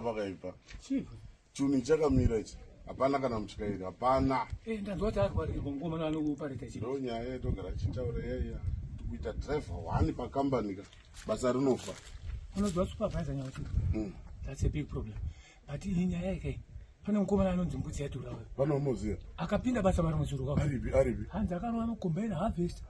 pakaipa chuni chakamira ichi hapana kana mutyairi hapana eh, ndanzwa kuti arwarirwa ngoma naanokuparita chi ndo nyaya yatogara achitaura yaiya tikuita driver one pakambani ka basa rinofa unoziva supervisor nyauti hmm. that's a big problem but iyi nyaya yake pane mukomana anonzi mbudzi yadhura uyo vanomuziva akapinda basa mari muzuru kwavo aripi aripi hanzi akanova mukombaina harvest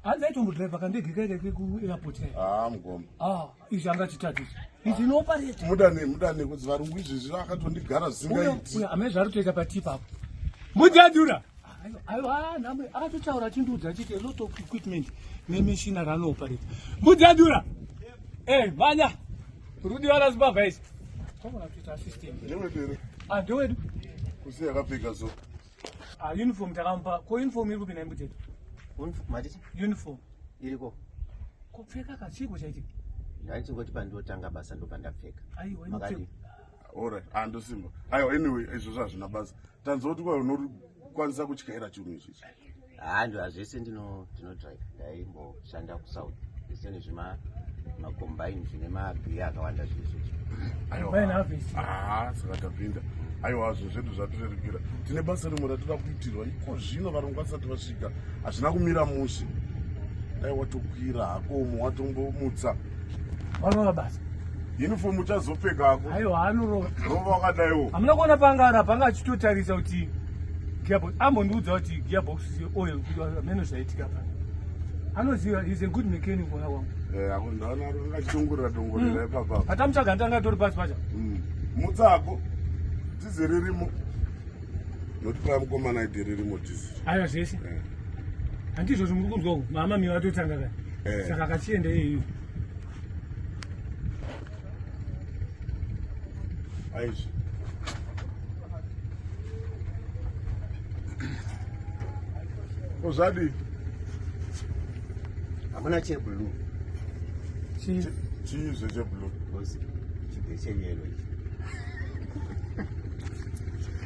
hanzi aitombodriver kandege kaike kekuairport kae haa ah, mugomba ah. izvi angatitatiza izvi inopareta mudane mudane kudzi varungu izvezvi vakatondigara zvisingaiti amene zvari kutoita patii papo mujadura aiwa nhamo akatotaura achindiudza achiti lot of equipment nemishina raanoopareta mujadura e eh, manya rudi vana zimbabva isi ndewedu ah, kusi yakapfeka so Ah, uniform takamupa ko uniform iri kupi naimbuteto matiti uniform iriko kupfeka kachiko chaiti ndaichingoti pandotanga basa ndobva ndapfeka aiwa makadii ora andosimba ah, aiwa anyway izvozvo hazvina basa tanzwa kuti kwa unokwanisa kutyaira chinhu ichichi haa ndo hazvese ndino ndinodrive ndaimboshanda kusouth zvese nezvima macombine zvine magiya akawanda zvezvezvo saka tapinda aiwa zvo zvedu zvatirerekera tine basa rimwe ratida kuitirwa iko zvino varungu vasati vasvika hazvina kumira mushe dai watokwira hako umo watombomutsa Warova basa. Uniform uchazopfeka hako. Ayo anorova. Rova wakadaiwo. Hamuna kuona panga ara panga achitotarisa kuti gearbox ambondiudza kuti gearbox oil kuti ameno zvaitika pa. Anoziva is a good mechanic mwana wangu. Eh, ako ndaona ari akachitongorera tongorera mm. ipapa. Atamutsvaga ndanga tori pasi pacha. Mm. Mutsako. Tiziririmo. Notipa mkomana idiririmo tizi. Ayo zvese. Yeah. handizvo zvomuri kunzwa uku mama mi vatotanga ka eh. saka akachienda iyeyu aizvi kozvadii hamuna cheblue chii zvecheblue chibve cheyelo ichi